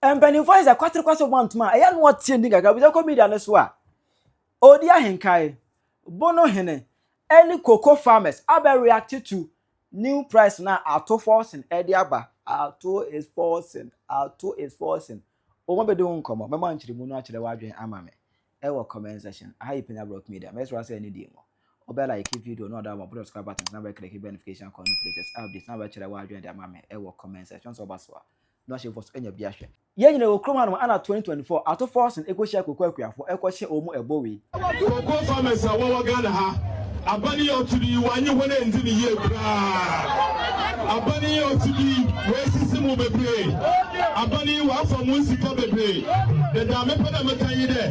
Mpanimfoɔ ayɛ sɛ kwaterekwase wɔn antom a ɛyɛ no ɔteɛ ni kakra bisa kɔ media no so a ɔdi ahenkae bono hene ɛne cocoa farmers abɛ react to new price na ato forcing ɛde aba ato is forcing ato is forcing wɔn abɛdi ho nkɔmɔ mɛma nkyerɛmu no akyerɛ w'adwene ama me ɛwɔ comment section aha yi panya block media mɛsrɛ sɛ ɛne deɛ mu ɔbɛ like video na ɔda wɔn abɛdɔ subscribe button na bɛkiriki notification kɔ no firi test updates na bɛkyerɛ w'adwene de ama me ɛwɔ comment section sɛ ɔba so a no ahyɛ mfɔso anya bi ahwɛ. Yɛn nyina wɔ kurom hanom ana 2024 ato fɔɔsen ɛkɔhyia koko akuafoɔ ɛkɔhyɛ ɔɔ mu ɛbɔ wei. Koko farmers a wɔwɔ Ghana ha abane yi ɔto de yi wanye hɔn anndzi ne yie koraa abane yi ɔto de yi wɔasisi mo bebree abane yi wɔafa mo nsika bebree dedaa mepɛ dɛ meka nye dɛ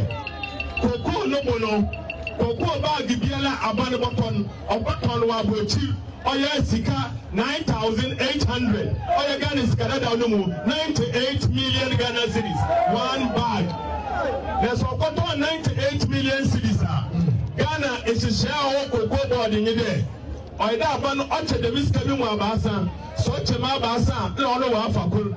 koko no bo no koko baage biara abane bɔkɔ no ɔbɛtɔn wɔ abɔkyir ɔyɛ sika nine thousand eight hundred ɔyɛ ghana sika dadaw no mu ninety eight million ghana cedis one bag na sɛ ɔkɔtɔ ninety eight million cedis a ghana nhyehyɛ a ɔwɔ koko bɔɔde nye dɛ ɔyɛ dɛ aba no ɔkyɛ dɛm sika bi mu abaasa sɛ ɔkyɛ mu abaasa a na ɔno wɔafa kor.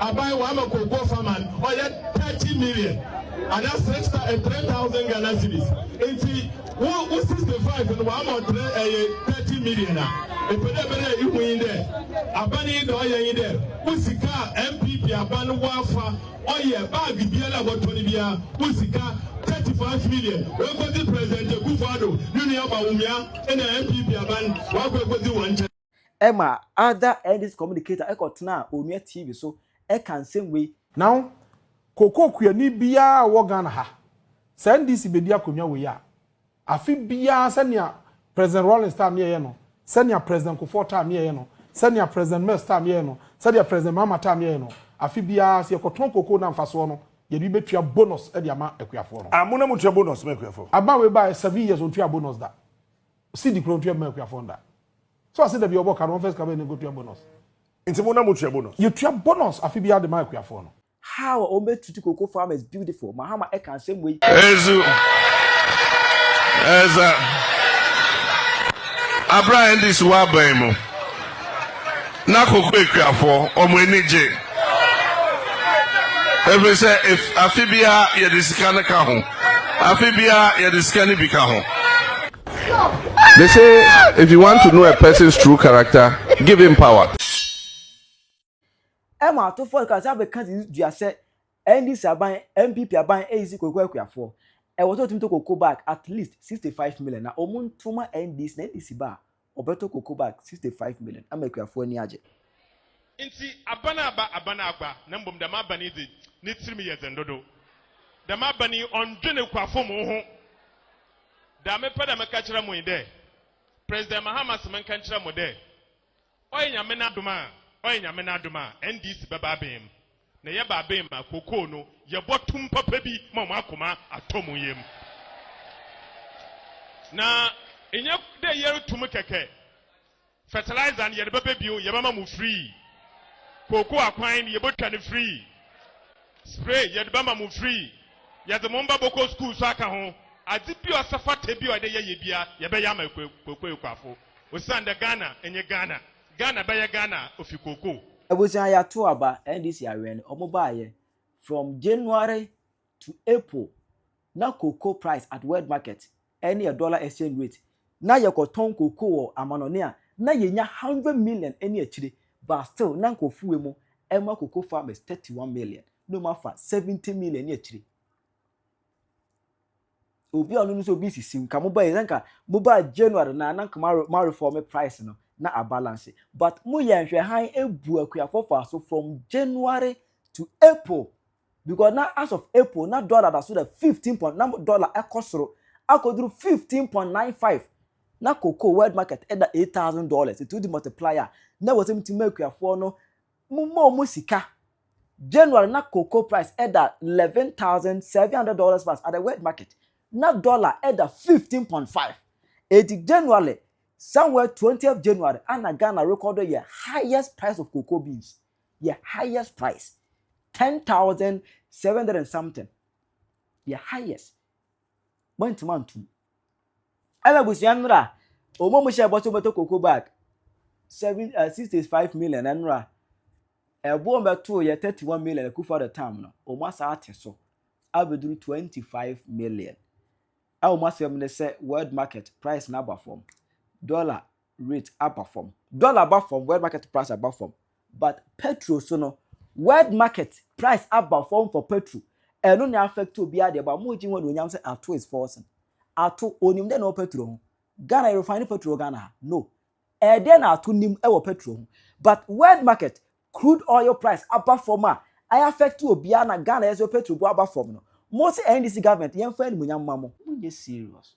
Aban wama Kokoa Farmer no ɔyɛ thirty million ana six eh, three thousand Ghana cedis nti wo wo sixty five no wama ɔtrɛ ɛyɛ eh, thirty million a epɛ dɛ bɛdɛ ihu yi dɛ aban yi dɛ ɔyɛ yi dɛ wo sika a NPP aban no wafa ɔyɛ baagi biara a wɔtɔ no biara wo sika thirty five million wɔkɔdzi president Akufo-Addo ne nua Bawumia ɛna NPP aban wɔakɔ ekɔdzi wɔn nkyɛn. ɛma Ada Ernest Communicator ɛkɔtenaa Onua TV so ɛka nsɛm wei. Now, Cocoa kuani biara a ɔwɔ Ghana ha, sɛ NDC bɛdi akonnwa wei a, afe biara sɛnea President Rawlings time yɛeɛ no, sɛnea President Kufuor time yɛeɛ no, sɛnea President Mills time yɛeɛ no, sɛdeɛ President Mahama time yɛeɛ no, afe biara sɛ yɛkɔtɔn cocoa no a mfasoɔ no, yɛde bɛtua bonus de ama akuafoɔ no. Ah, mo na motua bonus ma akuafoɔ? Aba wei baeɛ seven years ɔntuaa bonus da. CD kura otua bɛma akuafoɔ nda. So ase da bi ɔbɔ ka no wɔn first kabɛn ne kotua bonus. Nti mo na mo tua bonus. Yɛ tua bonus afe biara de ma akuafoɔ no. How a wɔn bɛ treat cocoa farmers beautiful Mahama ɛka nsɛm wei. Ɛzu ɛza abira NDC wɔ aban mu. na koko akuafoɔ wɔn ani gye ɛfiri sɛ afe biara yɛde sika no ka ho afe biara yɛde sika no bi ka ho. They say if you want to know a person's true character, give him power. Ɛma atofoɔ no kasa bɛka si dua sɛ NDC aban, NPP aban ɛyisi koko akuafoɔ. Ɛwɔ sɛ ɔtumi tɔ koko bag at least 65 million na wɔn nto ma NDC na NDC ba a Wɔbɛtɔ koko bag sixty five million ama akuafoɔ ani agye. Ntsi aban a aba, aban a agba, na mbom dɛm aban yi dze, ne tsirmu yɛ dzen dodow. Dɛm aban yi ɔnndwen ekuafo mbo ho. Dza mepɛ dɛ meka kyerɛ mo nye dɛ, President Mahama se menka nkyerɛ mo dɛ, ɔyɛ Nyame n'adom a, ɔyɛ Nyame n'adom a, NDC bɛba abɛn mu. Na yɛ ba ben ma kokoo no yɛ bɔ tum papa bi ma ɔmo akoma atɔ ɔmo yɛm. Na nyɛ dɛ yɛ re tum kɛkɛ, fertilizer no yɛ de bɛ bɛ bio, yɛ bɛ ma mo free. Kokoo akwan no yɛ bɔ twa no free. Spray yɛ de bɛ ma mo free. Yɛ de mo mba bɔ kɔ school so aka ho. Adze bi a ɔsɛ fata bi a ɔyɛ dɛ yɛ yɛ bia yɛ bɛ yɛ ama kokoo ekuafo. Osiandɛ Ghana nye Ghana. Ghana bɛyɛ Ghana ofi kookoo. Abusua yɛato aba NDC awɛn no ɔmo baayɛ from January to April na cocoa price at world market ɛne yɛ dollar exchange rate na yɛkɔ tɔn cocoa wɔ amanɔne a na yɛnya hundred million ɛne akyire but still na nkorɔfo wɔ mu ɛma cocoa farmers thirty one million na ɔmo afa seventy million ɛne akyire. Obi a ɔno nso obi sisi nka mo bɛyɛ nka mo ba January na na nka ma reform price no na a balance but mo yɛ nhwɛ han ebu akuafo fa so from January to April because na as of April na dollar da so da 15 point na dollar ɛkɔ soro akɔduru 15.95 na cocoa world market ɛda 8000 dollars ɛtu di multiplier na wɔsɛm ti ma akuafoɔ no Mommɔ wɔn sika. January na cocoa price da eleven thousand seven hundred dollars plus at the world market, na dollar da fifteen point five. Enti January somewhere twentieth January a na Ghana rekɔdo yɛ highest price of cocoa beans, yɛ highest price ten thousand seven hundred and something, yɛ highest. Moantumi anto mu. Ɛna abusua nnora wɔn a wɔhyɛ bɔ sɛ wɔbɛtɔ koko bag seven uh, sixty five million nnora ɛbo wɔn bɛtoo yɛ thirty one million akufa the time no wɔn asa ate so abɛduru twenty five million a wɔn asɛm ne sɛ world market price na aba fam dollar Rate aba fam, dollar aba fam, world market price aba fam but petrol so no world market price aba fam for petrol ɛno na affect obiara deɛ but mo gye ho anuonyam sɛ ato is forcing ato onim dɛ na ɔwɔ petrol ho Ghana refine petrol wɔ Ghana ha no ɛdɛ na ato nim ɛwɔ petrol ho but world market crude oil price aba fam a ayɛ affect obiara na Ghana yɛ sɛ petrol bu aba fam no mo sɛ NDC government yɛmfa animonyam ma mo. Monyɛ serious.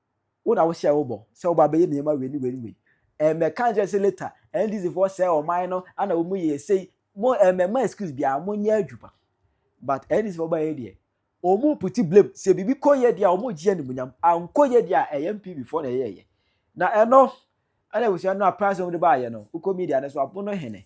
Wo na wohyɛɛ wo bɔ sɛ wobɛ abɛyɛ nneɛma wei ne wei ne wei. Ɛmmɛ ka nkyerɛ sɛ later NDC foɔ sɛɛ ɔman no ana wɔn mu yɛ sei. Mo ɛmmɛ mma excuse biara mo nyɛ adwuma. But NDC foɔ baeɛ deɛ wɔn puti blame sɛ biribi kɔ yɛ deɛ a wɔn gye animuonyam ankɔ yɛ deɛ a ɛyɛ NPP foɔ na ɛyɛɛyɛ. Na ɛno ɛna abusua no na price wɔn de baeɛ no wokɔ media no so abono hene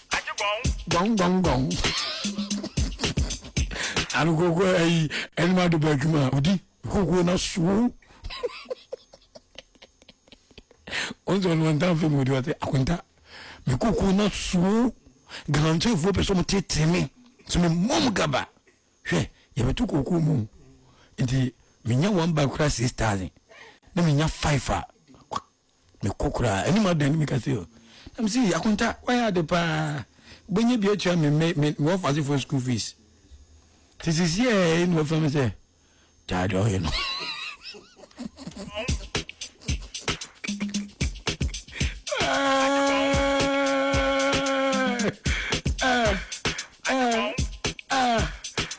Agye gɔn. Gɔn gɔn gɔn. Ano koko ayi ɛnum adi ba adwuma odi koko na suo. Onse ɔno wɔn ntan fɛn mu odi ɔte akonta mi koko na suo galamsɛfoɔ pɛ sɛ ɔmo tete mi sɛ mi mɔm gaba hwɛ yɛbɛto koko mu nti menya one bag kora six thousand na menya five a. Mekɔ koraa, anim adan no meka sɛ, na mese, ee, Akonta, woayɛ ade paa, wobɛnya bi atua me me me wɔfasefoɔ school fees. Te sisi a ɛyɛ na wafira me sɛ, gyaa deɛ ɔyɛ no.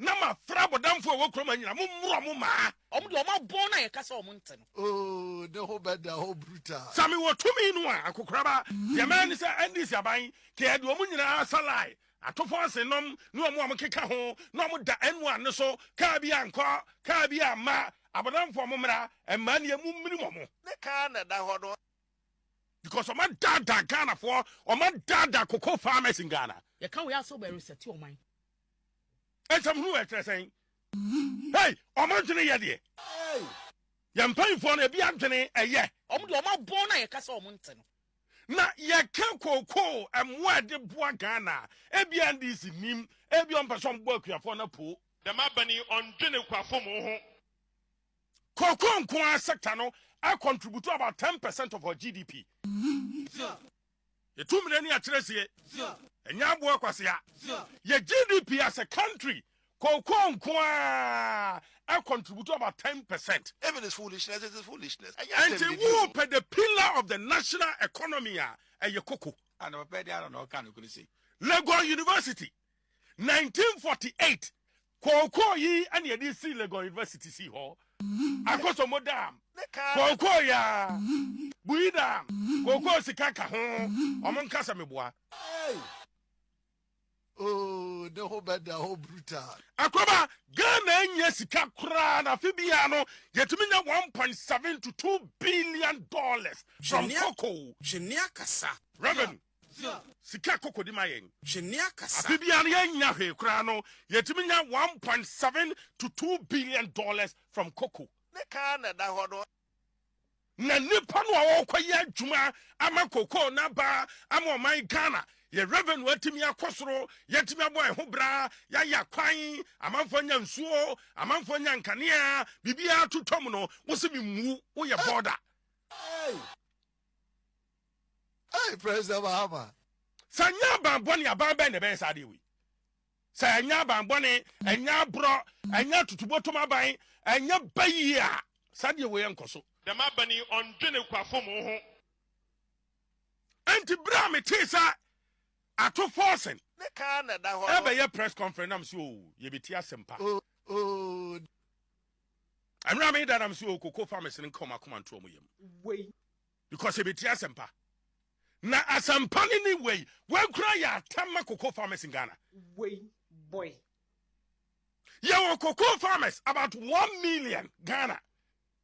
Na ma frɛ abɔdamfoɔ a ɛwɔ kurom ha nyinaa, mo mmorɔ mo mmaa. Wɔn deɛ wɔn abɔn no a yɛka sɛ wɔn nte no. Oh ne ho bɛda hɔ brutal. Sɛ mewɔ tumi no a akokoraba deɛ mɛyɛ ne sɛ NDC aban kea de wɔn nyinaa salae atofo asenom ne wɔn a wɔn keka ho na wɔn da N one no so kaa bi ankɔ kaa bi amma abɔdamfoɔ mo mmra mmaa nie mo mmirim wɔn. Ne kaa na ɛda hɔ no. Because wɔn adaadaa Ghanafoɔ wɔn adaadaa cocoa farmers in Ghana. Yɛka wei a sɛ wɔbɛ resɛte ɔman. Nsɛm hunu wɔ ɛkyerɛ sɛn? Hey, wɔn adwene yɛ deɛ. Yɛn mpanyinfoɔ no ebi adwene ɛyɛ. Wɔn deɛ wɔn abɔn na yɛka sɛ wɔn nte no. Na yɛka kookoo mmoa ɛde boa Ghana a, ebi a NDC nim, ebi wɔn pɛ sɛ wɔn bɔ akuafoɔ no apoo. Dɛm aban yi wɔn dwene kuafo mo ho. Kookoo nko ara sector no a contribute about ten percent of our GDP. Yɛtu mmene ne akyerɛsie. Ɛnyɛ aboɔ kwasea. Yɛ GDP as a country kookoo nko ara contribute about ten percent. Even it's foolishness, it is foolishness. Ɛnyɛ asɛm bibi o. Ɛnti wo pɛ the pillar of the national economy a, ɛyɛ koko. Ah na papa ɛdeɛ ara na ɔka no kunu sei. Legon University, 1948. Kookoo yi na yɛde sii Legon University sii hɔ, Akosombo Dam, Kookoo Yaa, Buyi Dam, Kookoo Sika ka ho, wɔn nka sɛ meboa. Hey! Oh, ne ho bɛda hɔ brutal. Akwaba, Ghana nnya sika koraa na afe biara no yɛtumi nya one point seven to two billion dollars from cocoa. Twe nea kasa. Revenue. Sika kɔkɔdi ma yɛn. Hwɛ nea kasa. Afe biara no yɛnnya hwee koraa no yɛtumi nya one point seven to two billion dollars from cocoa. Ne ka ara na ɛda hɔ no. Na nnipa no a wɔrekɔyɛ adwuma ama cocoa no aba ama ɔman Ghana, yɛn revenue atumi akɔ soro, yɛatumi abɔ yɛn ho bra, yɛayɛ akwan, amanfoɔ anya nsuo, amanfoɔ anya nkanea, biribiara totwam no, wo se memmu, woyɛ border. Hey President Mahama. Sɛ nyɛ aban bɔne aban bɛn na ɛbɛyɛ saa adeɛ wei? Sɛ ɛnyɛ aban bɔne, ɛnyɛ aborɔ, ɛnyɛ atutubotom aban, ɛnyɛ bayie a, saa adeɛ wei ɛnkɔ so. Dɛm aban yi ɔndwene ekuafo mu ho. Ɛnti berɛ a metee sɛ Ato Forson ɛbɛyɛ press conference na mese oo yɛbɛti asɛm pa. Ɛmerɛ a meda na mese oo koko fa mesene nka ɔmakoma nto ɔmo yam. Because ebetie asɛmpa. Na asɛmpa no ne wei. Wei koraa yɛ atam ma cocoa farmers in Ghana. Wei boy. Yɛwɔ cocoa farmers about one million Ghana.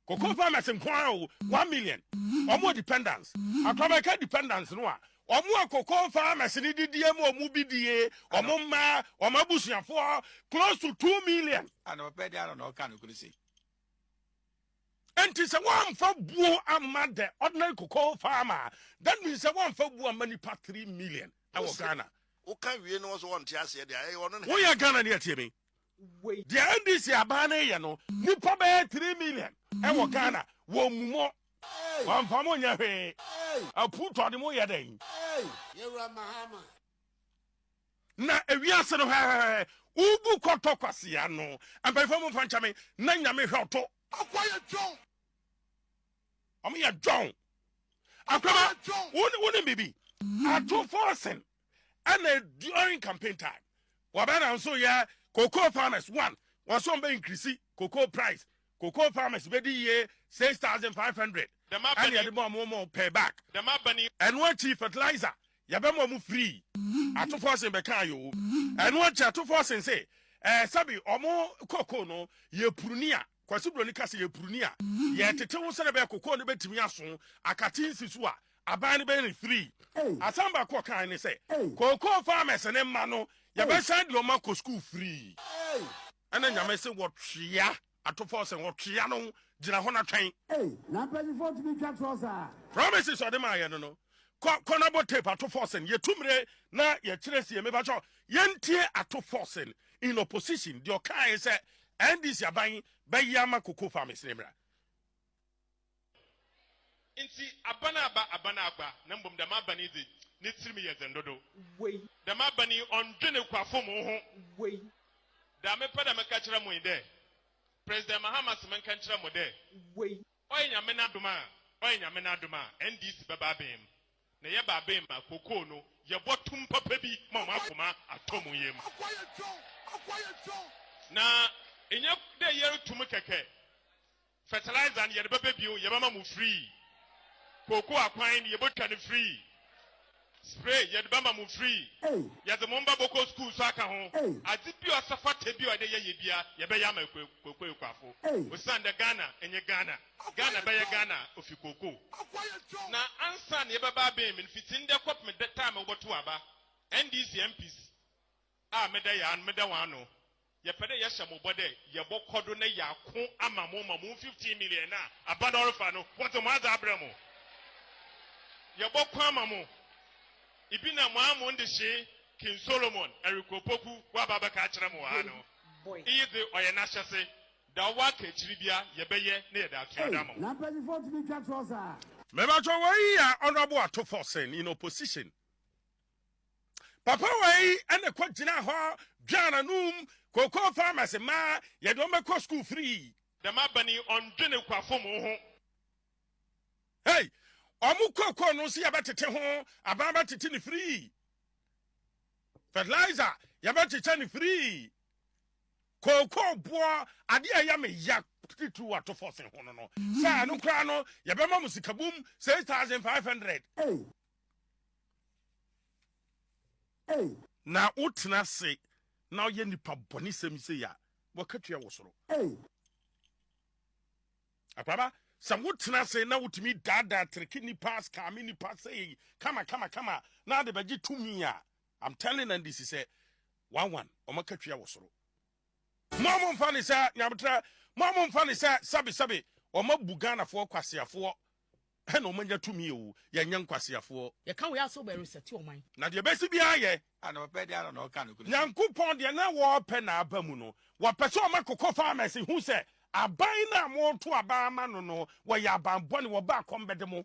Cocoa mm. farmers nko ara o one million. Wɔn dependence. Atɔmɛka dependence no a wɔn a cocoa farmers ne didie mu wɔn bi die wɔn mma wɔn abusuafoɔ close to two million. Anamapɛ de ara na ɔka no kuru si. Enti sɛ wɔamfa buo amma the ordinary cocoa farmer a, that means sɛ wɔamfa buo amma nipa three million wɔ Ghana. Woka wie na wɔsɛ wɔnte aseɛ deɛ ɛyɛ ɔno ne. Woyɛ Ghana ni atie me. Deɛ NDC abaa no yɛ no, nipa bɛyɛ three million wɔ Ghana, wɔmmu mo, wɔamfa mo nyɛ hwee, apu tɔ de mo yɛ dɛn? Yɛwura Mahama. Na ewiase no hɛhɛhɛ ugu kɔtɔ kwasia no mpanyinfoɔ mu nfankyɛme na nyame hwɛ ɔto. Akwa yɛ John. Ɔmo yɛ John. Akwaba wone bibi ato forcing ɛna during campaign time wɔbɛ na nso yɛ cocoa farmers one wɔn so wɔn bɛ increase cocoa price Cocoa farmers bedi yie six thousand five hundred ɛna yɛde ma ɔmo ɔmo pay back ɛno akyi fertilizer yɛbɛ ma ɔmo free atofɔsen bɛ kan yoo ɛno akyi atofɔsen se ɛɛ sɛbi ɔmo cocoa no yɛ puruni a kwasi broni kasa yɛ puruni a yɛ tete wo sɛnɛ bɛ cocoa no bɛ timi aso akate nsi so a aban no bɛ ne free asan baako ɔkan ne sɛ cocoa farmers ne mma no yɛbɛ san de ɔmo akɔ school free. Ɛna Nyame se wɔtwea atopɔ sɛ wɔtwea no gyina hɔ na twɛn. Ei na mpanyinfoɔ tumi twa torɔ saa. Promises ɔde maa yɛ no no. Kɔ kɔ na bɔ tape ato forcing yɛ tu mire na yɛ kyerɛ sie me bɛtwɔ yɛn tie ato forcing in opposition deɛ ɔkae sɛ NDC aban bɛyɛ ama koko farmers ne mmerɛ. Ntsi aban aba, aban agba, na mbom dɛm aban yi dze, ne tsirim yɛ dzen dodow. Dɛm aban yi ɔnndwen ekuafo mu ho. Dza mepɛ dɛ meka kyerɛ mo nye dɛ, President Mahama se menka nkyerɛ mo dɛ, ɔyɛ Nyame n'adom a, ɔyɛ Nyame n'adom a, NDC bɛba aban mu. Na yɛba aban mu a, kokoo no, yɛbɔ tum papa bi ma hɔn akoma atɔ mu yamu. Na nnyɛ dɛ yɛrotu mu kɛkɛ. Fertilizer no yɛde bɛbɛ bio yɛbɛma mo free. Cocoa akwan no yɛbɛtwa no free. Spray yɛde bɛma mo free. Yɛde mo mma bɛkɔ school nso aka ho. Ade bi a ɔsɛ fata bi a yɛde yɛ yɛ bia yɛbɛyɛ ama Cocoa Ekuafo. Osiandɛ Ghana nyɛ Ghana. Ghana bɛyɛ Ghana a ofi Cocoa. Na ansa na yɛbɛba abɛn mu no, fitsi ndɛ kɔpem da time a wɔbɔtow aba, NDC MPs a meda yɛ ano, meda hɔn ano. Yɛpɛ dɛ yɛhyɛ mo bɔ dɛ yɛbɔkɔ do na yɛako ama mo ma mo fifteen million no a aba no ɔrefa no, wɔdze mo adze abrɛ mo. Yɛbɔkõ ama mo. Ibi na mo amu ndehyee, King Solomon, Eric Opoku, wɔaba abɛka akyerɛ mo wɔ ha no. Iyi dze, ɔyɛ n'ahyɛse. Dza ɔwɔ aka ekyir bia, yɛbɛyɛ na yɛdze atua do ama wo. Mebakyɛw wei yɛ Honourable Atufo Sen in opposition. papa wei ɛna kɔ gyina hɔ dwan anum cocoa farmers ma yɛde wɔn bɛkɔ school free. Dɛm aban yi ɔndwene kwafo mu ho. Hey, ɔmo cocoa no nso yɛbɛtete ho, aban bɛtete ne free, fertilizer yɛbɛkyekyɛ ne free, cocoa boɔ adeɛ a ɛyɛ me ya titiriw ato fɔse ho no no sɛ ɛno koraa no yɛbɛma mo sikabum six thousand five hundred. Ei. Na wotena ase na woyɛ nnipa bɔne sɛm sei a, w'akatua wɔ soro. Ei. Akwaaba, sɛ wotena ase na wotumi daadaa tereke nnipa, skaame nnipa sei kama kama kama na wode bɛgye tumi a, I'm telling NDC sɛ, one one, wɔn akatua wɔ soro. Mo a momfa no sɛ nyametrɛ, mo a momfa no sɛ sɛbesɛbe, wɔabu Ghanafoɔ kwaseafoɔ na wɔanya tumi o, yɛnyɛ nkwaseafoɔ. Yɛka wei a sɛ wɔbɛresɛte ɔman. Na deɛ ɛbɛsi biara yɛ. A na wɔpɛ deɛ ara na wɔka nokorɛ. Nyankopɔn deɛ na wɔpɛ na aba mu no. Wɔpɛ sɛ wɔma cocoa farmers hu sɛ aban no a moreto aban ama no no, wɔyɛ abanbɔne, wɔba akɔm bɛde mo.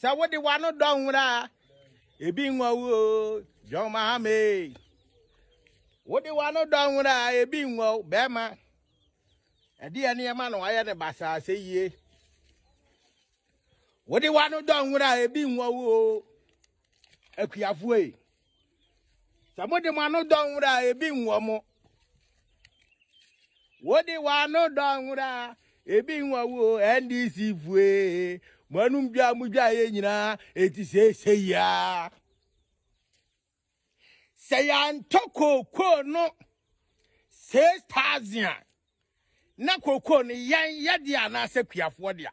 Sɛ wode w'ano dɔ nwera a, ebi nwa wo o, John Mahama ee. Wode w'ano dɔ nwera a, ebi nwa wo, bɛrima. Ɛde yɛ nneɛma na wayɛ ne basaa sɛ yie. Wode w'ano dɔ nwera a, ebi nwa wo o, akuafoɔ ee. sɛ mode mo ano dɔ nwura a ebi nwɔ mo wode w'ano dɔ nwura a ebi nwɔ wo ndc fue mo anum dwa mo dwa yɛ nyinaa eti seese yia sɛ yɛantɔ kookoo no six thousand na kookoo no yɛn yɛde anaasɛ kuafoɔ deɛ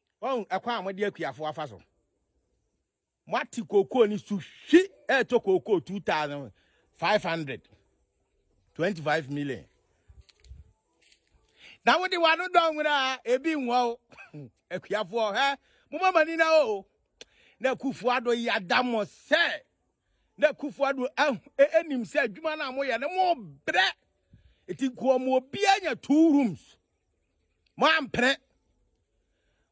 Wahu ɛkwan a mode akuafo afa so. Moate kookoo ne su hwi ɛretɔ kookoo 2500 25 million. Na wode wano dɔ nwera a ebi nwa o. Akuafoɔ hɛ moma mani na o. Na kufuado yada mo sɛ na kufuado anim sɛ adwuma no a moyɛ no mo brɛ. Eti nkoa mu obi anya two rooms. Mo ampene.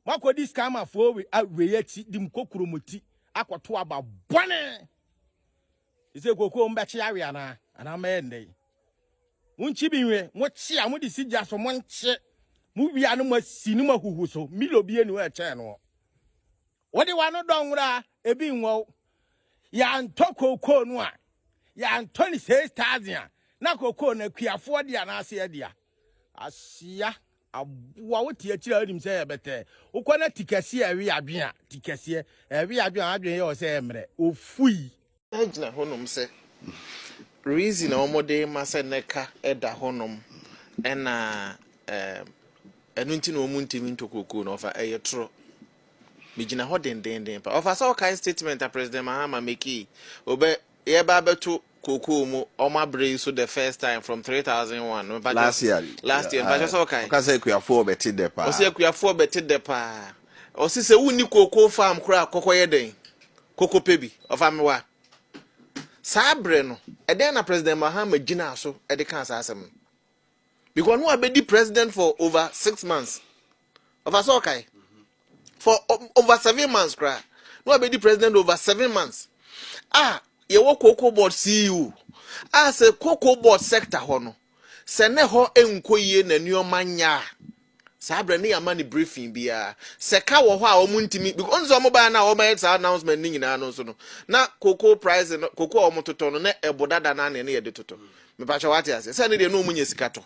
Mo akɔdi scammerfoɔ we awei akyi de mo kokuro mo ti akɔto aba bɔne. Ɛsɛ kokoo mo bɛkye awe anaa anaa mɛyɛ nnɛ yi. Mo nkyi bi nwe mo kye a mo de si gya so mo nkye mo wia no mo asi no mo ahuhu so milo bi enu ɛkyɛn no. Wode w'ano dɔ nwera a ebi nwɔ wo. Yɛantɔ kookoo no a, yɛantɔ no six thousand a, na kookoo no akuafoɔ dea anaase yɛ dea. Asia, aboa wo te akyiri a wonim sɛ yɛ bɛtɛɛ. Wokɔ na ti kɛseɛ ɛwe adwen a, ti kɛseɛ ɛwe adwen a adwen yɛ wɔ sɛ ɛmmerɛ. Ofui. gyina hɔnom sɛ reason a wɔde ma sɛ ne ka da hɔnom ɛna ɛno nti na wɔn ntumi ntɔ kookoo na ɔfa ɛyɛ toro megyina hɔ dendenden pa ɔfa sɛ ɔkae statement a president mahama mekii ɔbɛ yɛba abɛto kookoo mu ɔmo abere yi so the first time from three thousand one last year last year mpakyɛ sɛ ɔkae ɔka sɛ akuafoɔ bɛte dɛ paa ɔsɛ akuafoɔ bɛte dɛ paa Ɔse sɛ wonni cocoa farm koraa a kɔkɔ yɛ dɛn? Koko pɛ bi. Ɔfa me wa. Saa berɛ no, ɛdɛn na President Mahama gyinaa so de kaa saa asɛm no? Because no abɛdi president for over six months. Ɔfa sɛ ɔkae? For over seven months koraa. No abɛdi president over seven months. A yɛwɔ cocoa board CEO. A sɛ cocoa board sector hɔ no, sɛ ne hɔ nkɔ yie na nneɛma nyɛ a, Saa berɛ no yɛ amane berɛ fii biara. Sɛ ka wɔ hɔ a wɔn ntumi because wɔn sɛ wɔn baa na wɔn ayɛ saa announcement ne nyinaa no nso no na koko price no koko a wɔn totɔ no na ɛbo dada na ne yɛde totɔ. Mepatwa wate aseɛ sɛ ne deɛ na wɔn nyɛ sika tɔ.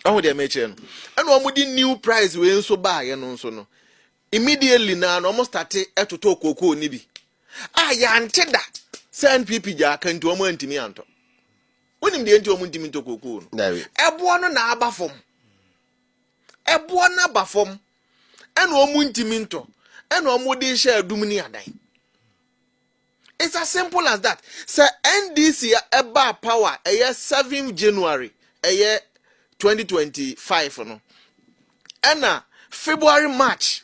Ɛho deɛ mɛkyerɛ no. Ɛna wɔn de new price wei nso baayɛ no nso no immediately na na wɔn starte ɛtotɔ koko ne bi a yɛante da sɛ NPP gyaa ka nti wɔn antumi antɔ. Wonim deɛ nti wɔn ntumi ntɔ kookoo no? Dabi. Ɛboɔ no na aba fam. Ɛboɔ no aba fam. Ɛna wɔn ntumi ntɔ. Ɛna wɔn de hyɛ adum ne adan. It's as simple as that. Sɛ NDC ɛba power ɛyɛ 7 January ɛyɛ 2025 no. Ɛna February March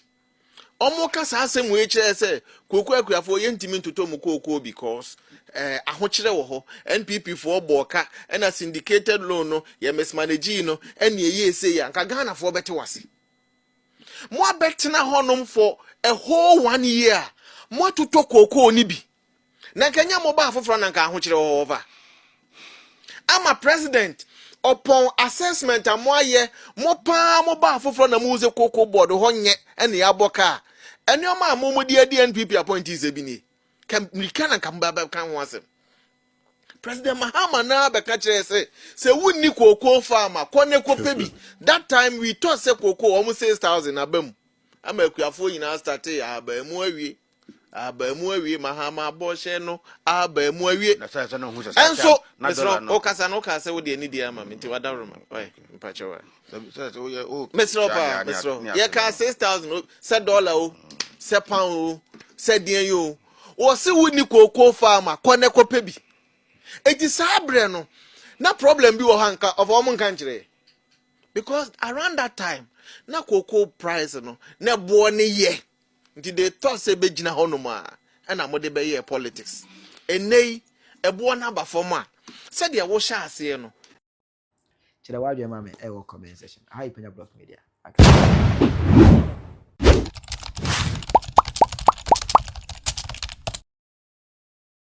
Wɔka saa asɛm wei kyerɛ sɛ kooko akuafoɔ yɛntumi ntotɔ mu kookoo because eh, ahokyerɛ wɔ hɔ. NPP foɔ bɔɔ ka ɛna syndicated loan no yɛ mismanagee no ɛne ɛyɛ ese yɛ anka Ghanafoɔ bɛte wase. Mo abɛtena hɔnom for a whole one year mo atotɔ kookoo no bi Na nka nyɛ mo baa foforɔ na nka ahokyerɛ wɔ hɔ fa. Ama president ɔpɔn assessment a mo ayɛ mo paa mo baa foforɔ na mo hu sɛ koko board hɔ nyɛ ɛna yɛabɔ kaa nneɛma a mo mo de adi NPP appointees ebi nie. Ka mirika na nka mo bɛ bɛka ho asɛm. President Mahama naa bɛka kyerɛ sɛ sɛ wonni koko farm a kɔ ne kɔ pɛ bi. That time we thought sɛ koko wɔn six thousand aba mu ama akuafoɔ nyinaa startee ahaba ɛmu awie. Ahaban mu awie, mahama bɔhyɛ no ahaban mu awie. Na sɛ sɛ no hu sɛ saa Nanso, na mesrɛ dɔla no. ɔkasa no ɔkaa sɛ wode anidie ama me nti wadaworo ma ɔyɛ mpakyɛ wa. Sɛ sɛ woyɛ o. Mesrɛ paa, mesrɛ. Yɛkaa 6000 sɛ dɔla o, sɛ pound o, sɛ deɛn yi o. Wɔse wo ni kookoo faama, kɔ ne kɔpɛ bi. Enti saa berɛ no, na problem bi wɔ hɔ anka, ɔfa wɔn nka nkyerɛ. Because around that time, na kookoo price no, na ɛboɔ ne yɛ. Nti they thought sɛ bɛgyina hɔ nom a ɛna mode bɛyɛɛ politics. Ɛnnɛ yi ɛboɔ no aba fam a, sɛdeɛ wohyɛ aseɛ no. Kyerɛ w'adwene ma me ɛwɔ comment section. Aha yɛ Panya Block Media. Aka.